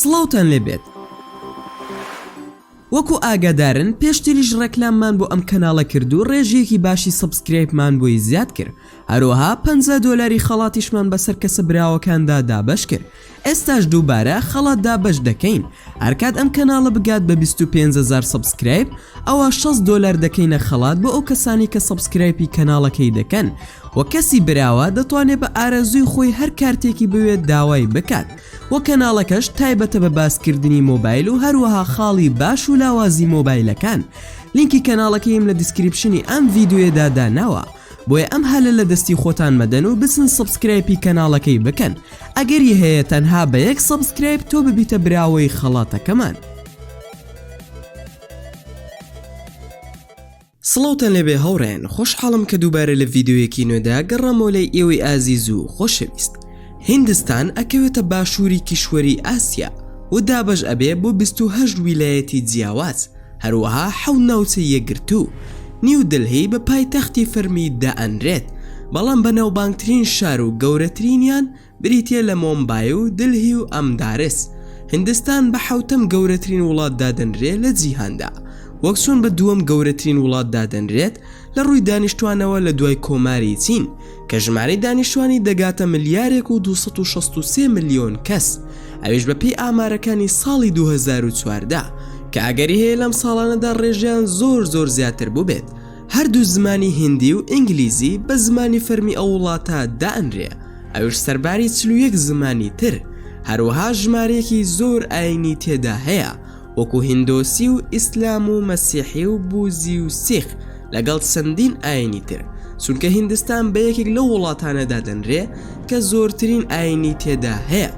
سڵاوتان لێ بێت وەکو ئاگادارن پێشتریش ڕێکلاممان بۆ ئەم کەناڵە کرد و ڕێژەیەکی باشی سەبسکرایبمان بۆی زیاد کرد هەروەها پ دۆلاری خەڵاتیشمان بەسەر کەسە براوەکاندا دابەش کرد ئێستاش دووبارە خەڵات دابەش دەکەین هەرکات ئەم کەناڵە بگات بە 25هزار سەبسکرایب ئەوە 6 دۆلار دەکەینە خەڵات بۆ ئەو کەسانی کە سەبسکرایپی کەناڵەکەی دەکەن و وە کەسی براوە دەتوانێت بە ئارەزووی خۆی هەر کارتێکی بوێت داوای بکات وە کەناڵەکەش تایبەتە بە باس کردنی مۆبایل و هەروەها خاڵی باش و لاوازی مۆبایلەکان لینکی کەناڵەکەیم لە دیسکریپشنی ئەم ڤیدیۆیەدا داناوە بۆیە ئەم هەلە لە دەستی خۆتان مەدەن و بچن سەبسکرایپی کەناڵەکەی بکەن ئەگەری هەیە تەنها بە یەک سەبسکرایپ تۆ ببیتە براوەی خەڵاتەکەمان. سڵاوتان لێبێ هاوڕێیان خۆشحاڵم کە دووبارە لە ڤیددیویەکی نوێدا گەڕامۆ لای ئێوەی ئازیز و خۆشەویست هیندستان ئەکەوێتە باشووری کیشوەری ئاسیا و دابەش ئەبێ بۆ 28 ویلایەتی جیاواز هەروەها حەوت ناوچەی یەکگرتوو نیو دلهی بە پایتەختی فەرمی دائەنرێت بەڵام بەناوبانگترین شار و گەورەترینیان بریتییە لە مۆمبای و دلهی و ئەمدارس. هیندستان بە حەوتەم گەورەترین وڵات دادەنرێ لە جیهاندا، وەک چۆن بە دووەم گەورەترین وڵات دادەنرێت لە ڕووی دانیشتوانەوە لە دوای کۆماری چین کە ژمارەی دانیشتوانی دەگاتە ملیارێک و دوو سەد و شەست و سێ ملیۆن کەس ئەویش بە پێی ئامارەکانی ساڵی دوو هەزار و چواردە کە ئەگەری هەیە لەم ساڵانەدا ڕێژەیان زۆر زۆر زیاتر بووبێت هەردوو زمانی هیندی و ئینگلیزی بە زمانی فەرمی ئەو وڵاتە دائەنرێ ئەوش سەرباری چل و یەک زمانی تر، هەروەها ژمارەیەکی زۆر ئاینی تێدا هەیە وەکو هیندۆسی و ئیسلام و مەسیحی و بوزی و سیخ لەگەڵ چەندین ئاینی تر چونکە هیندستان بە یەکێک لەو وڵاتانە دادەنرێ کە زۆرترین ئاینی تێدا هەیە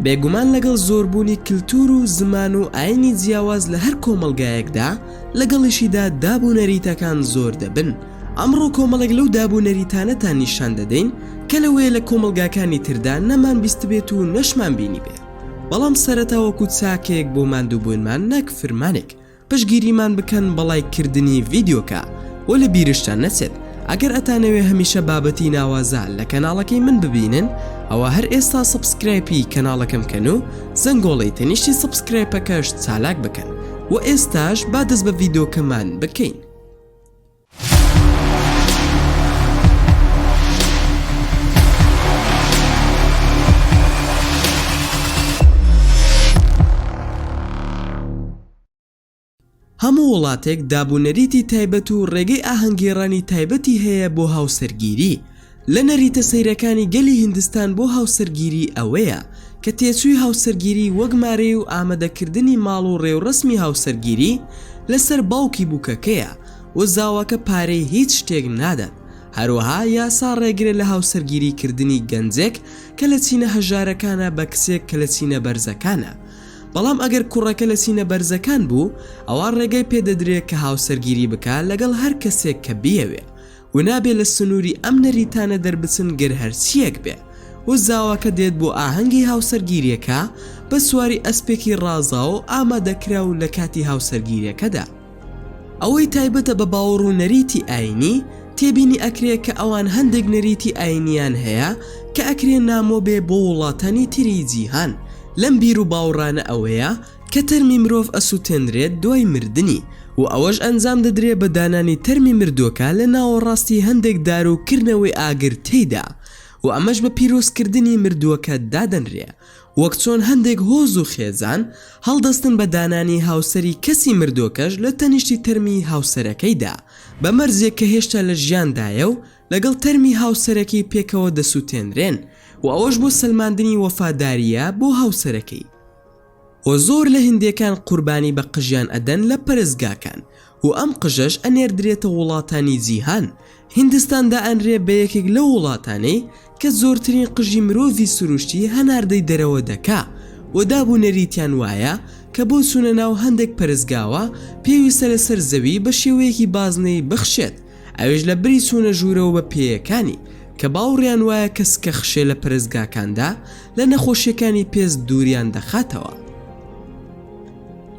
بێگومان لەگەڵ زۆربوونی کلتور و زمان و ئاینی جیاواز لە هەر کۆمەڵگایەکدا لەگەڵیشیدا داب و نەریتەکان زۆر دەبن ئەمڕۆ کۆمەڵێک لەو داب و نەریتانەتان نیشان دەدەین کە لەوەیە لە کۆمەڵگاکانی تردا نەمان بیستبێت و نەشمان بینیبێ، بەڵام سەرەتا وەکوو چاکەیەک بۆ ماندووبوونمان نەک فرمانێک پشتگیریمان بکەن بە ڵایک کردنی ڤیدیۆکە و لە بیرشتان نەچێت ئەگەر ئەتانەوێ هەمیشە بابەتی ناوازە لە کەناڵەکەی من ببینن ئەوا هەر ئێستا سەبسکرایپی کەناڵەکەم کەن و زەنگۆڵەی تەنیشتی سەبسکرایپەکەش چالاک بکەن و ئێستاش با دەست بە ڤیدۆکەمان بکەین. هەموو وڵاتێک دابوونەریتی تایبەت و ڕێگەی ئاهەنگگێڕانی تایبەتی هەیە بۆ هاوسەرگیری لە نەریتە سەیرەکانی گەلی هیندستان بۆ هاوسەرگیری ئەوەیە کە تێچووی هاوسەرگیری وەک مارەی و ئامەدەکردنی ماڵ و ڕێوڕەسمی هاوسەرگیری لەسەر باوکی بووکەکەیە و زاواکە پارەی هیچ شتێک نادات هەروەها یاسا ڕێگرە لە هاوسەرگیری کردنی گەنجێک کە لە چینە هەژارەکانە بە کچێک کە لە چینە بەرزەکانە بەڵام ئەگەر کوڕەکە لە چینە بەرزەکان بوو ئەوا ڕێگەی پێدەدرێت کە هاوسەرگیری بکات لەگەڵ هەر کەسێک کە بیەوێت و نابێ لە سنووری ئەم نەریتانە دەربچن گەر هەرچییەک بێ و زاواکە دێت بۆ ئاهەنگی هاوسەرگیرییەکە بە سواری ئەسپێکی ڕازاو و ئامادەکراو لە کاتی هاوسەرگیرییەکەدا ئەوەی تایبەتە بە باوەڕ و نەریتی ئایینی تێبینی ئەکرێ کە ئەوان هەندێک نەریتی ئایینییان هەیە کە ئەکرێ نامۆ بێ بۆ وڵاتانی تری جیهان لەم بیر و باوڕانە ئەوەیە کە تەرمی مرۆڤ ئەسوتێنرێت دوای مردنی و ئەوەش ئەنجام دەدرێ بە دانانی تەرمی مردووەکە لە ناوەڕاستی هەندێک دار و کردنەوەی ئاگر تێیدا و ئەمەش بە پیرۆز کردنی مردووەکە دادەنرێ وەک چۆن هەندێک هۆز و خێزان هەڵدەستن بە دانانی هاوسەری کەسی مردووەکەش لە تەنیشتی تەرمی هاوسەرەکەیدا بە مەرجێک کە هێشتا لە ژیاندایە و لەگەڵ تەرمی هاوسەرەکەی پێکەوە دەسوتێنرێن و ئەوەش بۆ سەلماندنی وەفادارییە بۆ هاوسەرەکەی. و زۆر لە هندێکان قوربانی بە قژیان ئەدەن لە پەرستگاکان و ئەم قژەش ئەنێردرێتە وڵاتانی جیهان هندستان دائەنرێ بە یەکێک لەو وڵاتانەی کە زۆرترین قژی مرۆڤی سروشتی هەناردەی دەرەوە دەکا و داب و نەریتیان وایە کە بۆ چونە ناو هەندێک پەرستگاوە پێویستە لەسەر زەوی بە شێوەیەکی بازنەیی بخشێت ئەویش لە بری چوونە ژوورەوە بە پێیەکانی، کە باوڕیان وایە کە سکە خشێ لە پەرستگاکاندا لە نەخۆشیەکانی پێست دووریان دەخاتەوە.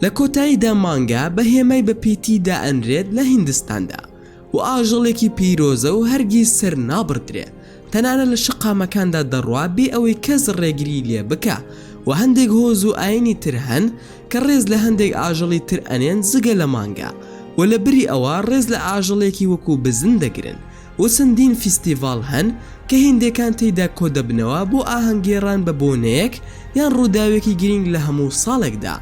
لە کۆتاییدا مانگا بە هێمای بە پیتی دائەنرێت لە هیندستاندا و ئاژەڵێکی پیرۆزە و هەرگیز سەر نابڕدرێ، تەنانەت لە شەقامەکاندا دەڕوا بێ ئەوەی کەس ڕێگریی لێ بکا و هەندێک هۆز و ئایینی تر هەن کە ڕێز لە هەندێک ئاژەڵی تر ئەنێن جگە لە مانگا و لە بری ئەوە ڕێز لە ئاژەڵێکی وەکوو بزن دەگرن و چەندین فیستیڤاڵ هەن کە هیندێکان تێیدا کۆدەبنەوە بۆ ئاهەنگگێڕان بە بۆنەیەک یان ڕووداوێکی گرینگ لە هەموو ساڵێکدا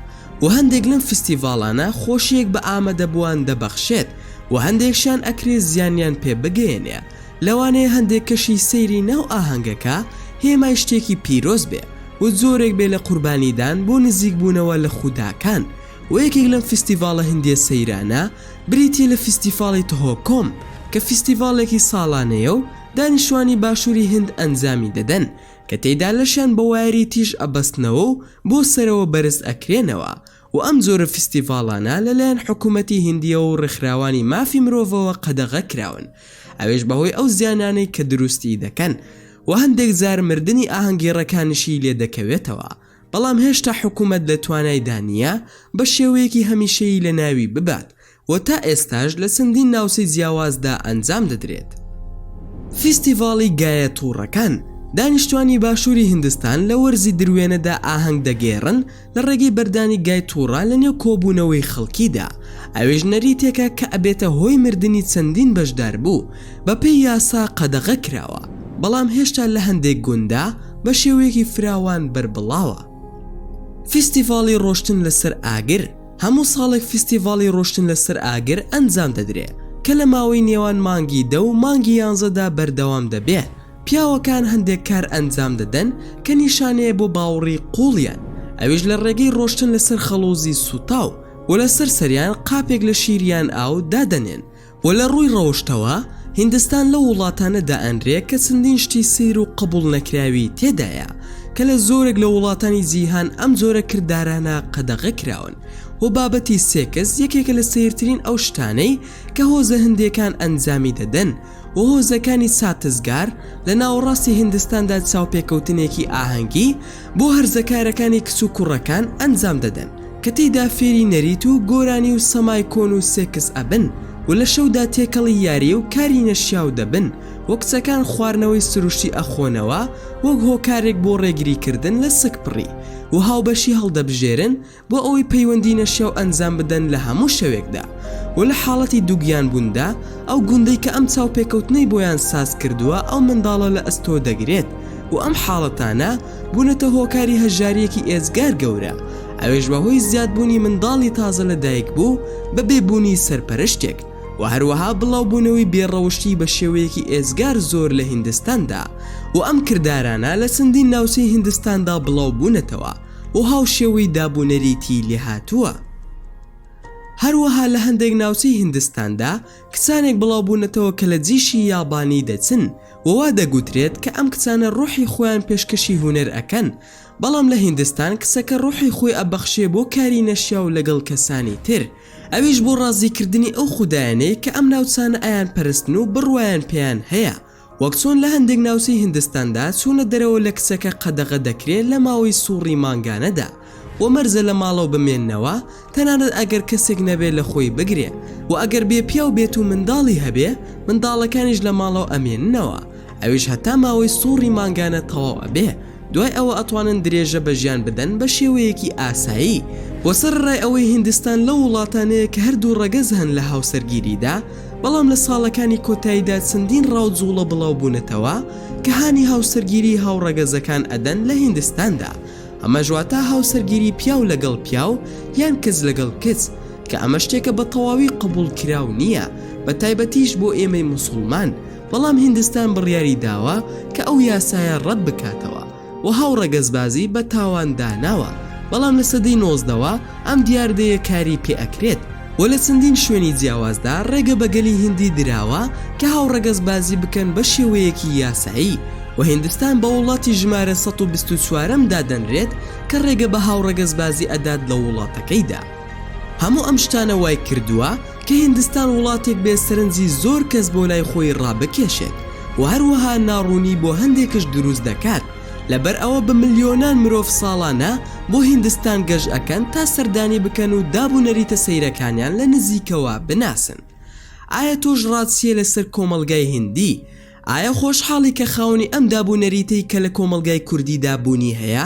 و هەندێک لەم فیستیڤاڵانە خۆشییەک بە ئامادەبووان دەبەخشێت و هەندێکشیان ئەکرێ زیانیان پێ بگەیەنێ لەوانەیە هەندێک کەشی سەیری ناو ئاهەنگەکە هێمای شتێکی پیرۆز بێ و جۆرێک بێ لە قوربانیدان بۆ نزیک بوونەوە لە خوداکان و یەکێک لەم فیستیڤاڵە هندیە سەیرانە بریتیە لە فیستیفاڵی تهۆکۆم کە فیستیڤاڵێکی ساڵانەیە و دانیشتوانی باشوری هند ئەنجامی دەدەن کە تێیدا لەشیان بە وایەری تیژ ئەبەستنەوە و بۆ سەرەوە بەرز ئەکرێنەوە و ئەم جۆرە فیستیڤاڵانە لەلایەن حکوومەتی هیندییەوە و ڕێکخراوانی مافی مرۆڤەوە قەدەغە کراون، ئەوێش بەهۆی ئەو زیانانەی کە دروستیی دەکەن و هەندێک جار مردنی ئاهەنگگێڕەکانیشی لێ دەکەوێتەوە، بەڵام هێشتا حکوومەت لە توانایدا نییە بە شێوەیەکی هەمیشەیی لەناوی ببات و تا ئێستاش لە چەندین ناوچەی جیاوازدا ئەنجام دەدرێت. فیستیڤاڵی گایە توڕەکان، دانیشتوانی باشوری هیندستان لە وەرزی دروێنەدا ئاهەنگ دەگێڕن لە ڕێگەی بەردانی گای توڕە لە نێو کۆبوونەوەی خەڵکیدا، ئەوێش نەریتێکە کە ئەبێتە هۆی مردنی چەندین بەشداربوو، بەپێی یاسا قەدەغە کراوە، بەڵام هێشتا لە هەندێک گونددا بە شێوەیەکی فراوان بەربڵاوە. فیستیڤاڵی ڕۆشتن لەسەر ئاگر، هەموو ساڵێک فیستیڤاڵی ڕۆشتن لەسەر ئاگر ئەنجام دەدرێ کە لە ماوەی نێوان مانگی دە و مانگی یانزە دا بەردەوام دەبێ پیاوەکان هەندێک کار ئەنجام دەدەن کە نیشانەیە بۆ باوڕی قوڵیان ئەویش لە ڕێگەی ڕۆشتن لەسەر خەڵوزی سوتاو و لەسەر سەریان قاپێک لە شیر یان ئاو دادەنێن وە لە ڕووی ڕەوشتەوە هیندستان لەو وڵاتانە دائەنرێ کە چەندین شتی سەیر و قبوڵ نەکراوی تێدایە کە لە زۆرێک لە وڵاتانی جیهان ئەم جۆرە کردارانە قەدەغە کراون وە بابەتی سێکس یەکێکە لە سەیرترین ئەو شتانەی کە هۆزە هندیەکان ئەنجامی دەدەن و هۆزەکانی چاتسگار لە ناوەڕاستی هیندستاندا چاوپێکەوتنێکی ئاهەنگی بۆ هەرزەکارەکانی کچ و کوڕەکان ئەنجام دەدەن کە تێیدا فێری نەریت و گۆرانی و سەمای کۆن و سێکس ئەبن و لە شەودا تێکەڵی یاریی و کاری نەشیاو دەبن و کچەکان خواردنەوەی سروشتی ئەخۆنەوە وەک هۆکارێک بۆ ڕێگریکردن لە سکپڕی و هاوبەشی هەڵدەبژێرن بۆ ئەوەی پەیوەندی نەشیاو ئەنجام بدەن لە هەموو شەوێکدا و لە حاڵەتی دووگیان بووندا ئەو گوندەی کە ئەم چاوپێکەوتنەی بۆیان ساز کردووە ئەو منداڵە لە ئەستۆ دەگرێت و ئەم حاڵەتانە بوونەتە هۆکاری هەژاریەکی ئێجگار گەورە ئەوێش بە هۆی زیاد بوونی منداڵی تازە لە دایک بوو بە بێ بوونی سەرپەرشتێک و هەروەها بڵاو بوونەوەی بێ ڕەوشتی بە شێوەیەکی ئێجگار زۆر لە هیندستاندا و ئەم کردارانە لە چەندین ناوچەی هیندستاندا بڵاو بوونەتەوە و هاوشێوەی دابونەریتی لێهاتووە. هەروەها لە هەندێک ناوچەی هیندستاندا کچانێک بڵاوبوونەتەوە کە لە جیشی یابانی دەچن و وا دەگوترێت کە ئەم کچانە ڕۆحی خۆیان پێشکەشی هونەر ئەکەن، بەڵام لە هیندستان کچەکە ڕۆحی خۆی ئەبەخشێ بۆ کاری نەشیاو لەگەڵ کەسانی تر، ئەویش بۆ ڕازیکردنی ئەو خودایانەی کە ئەم ناوچانە ئەیانپەرستن و بڕوایان پێیان هەیە. وەک چۆن لە هەندێک ناوچەی هندستاندا چوونە دەرەوە لە کچەکە قەدەغە دەکرێت لە ماوەی سوڕی مانگانەدا و مەرجە لە ماڵەوە بمێننەوە تەنانەت ئەگەر کەسێک نەبێت لە خۆی بگرێ و ئەگەر بێ پیاو بێت و منداڵی هەبێ منداڵەکانیش لە ماڵەوە ئەمێننەوە ئەویش هەتا ماوەی سوڕی مانگانە تەواو ئەبێ دوای ئەوە ئەتوانن درێژە بە ژیان بدەن بە شێوەیەکی ئاسایی وە سەرەڕای ئەوەی هیندستان لەو وڵاتانەیە کە هەردوو ڕەگەز هەن لە هاوسەرگیریدا بەڵام لە ساڵەکانی کۆتاییدا چەندین ڕاو جوڵە بڵاو بوونەتەوە کە هانی هاوسەرگیری هاوڕەگەزەکان ئەدەن لە هیندستاندا ئەمەش واتە هاوسەرگیری پیاو لەگەڵ پیاو یان کچ لەگەڵ کچ کە ئەمە شتێکە بە تەواوی قبوڵکراو نییە بە تایبەتیش بۆ ئێمەی موسوڵمان بەڵام هیندستان بڕیاری داوە کە ئەو یاسایە ڕەت بکاتەوە و هاوڕەگەزبازی بە تاوان داناوە، بەڵام لە سەدەی نۆزدەوە ئەم دیاردەیە کاری پێ ئەکرێت و لە چەندین شوێنی جیاوازدا ڕێگە بە گەلی هیندی دراوە کە هاوڕەگەزبازی بکەن بە شێوەیەکی یاسایی و هیندستان بە وڵاتی ژمارە سەد و بیست و چوارەم دادەنرێت کە ڕێگە بە هاوڕەگەزبازی ئەدات لە وڵاتەکەیدا. هەموو ئەم شتانە وایکردووە کە هیندستان وڵاتێک بێت سەرنجی زۆر کەس بۆ لای خۆی ڕابکێشێت و هەروەها ناڕوونی بۆ هەندێکش دروست دەکات لەبەر ئەوە بە ملیۆنان مرۆڤ ساڵانە بۆ هیندستان گەشت ئەکەن تا سەردانی بکەن و داب و نەریتە سەیرەکانیان لە نزیکەوە بناسن ئایا تۆش ڕات چیە لەسەر کۆمەڵگای هیندی؟ ئایا خۆشحاڵی کە خاوەنی ئەم داب و نەریتەی کە لە کۆمەڵگای کوردیدا بوونی هەیە؟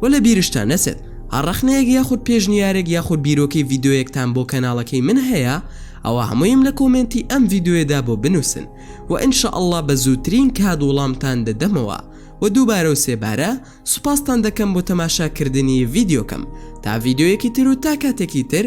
وە لە بیرشتان نەچێت هەر ڕەخنەیەک یاخود پێشنیارێک یاخود بیرۆکەی ڤیدۆیەکتان بۆ کەناڵەکەی من هەیە ئەوا هەموویم لە کۆمێنتی ئەم ڤیدۆیەدا بۆ بنوسن وە ان شاء اللە بە زووترین کات وڵامتان دەدەمەوە وە دووبارە و سێبارە سوپاستان دەکەم بۆ تەماشا کردنی ڤیدیۆکەم تا ڤیدۆیەکی تر و تا کاتێکی تر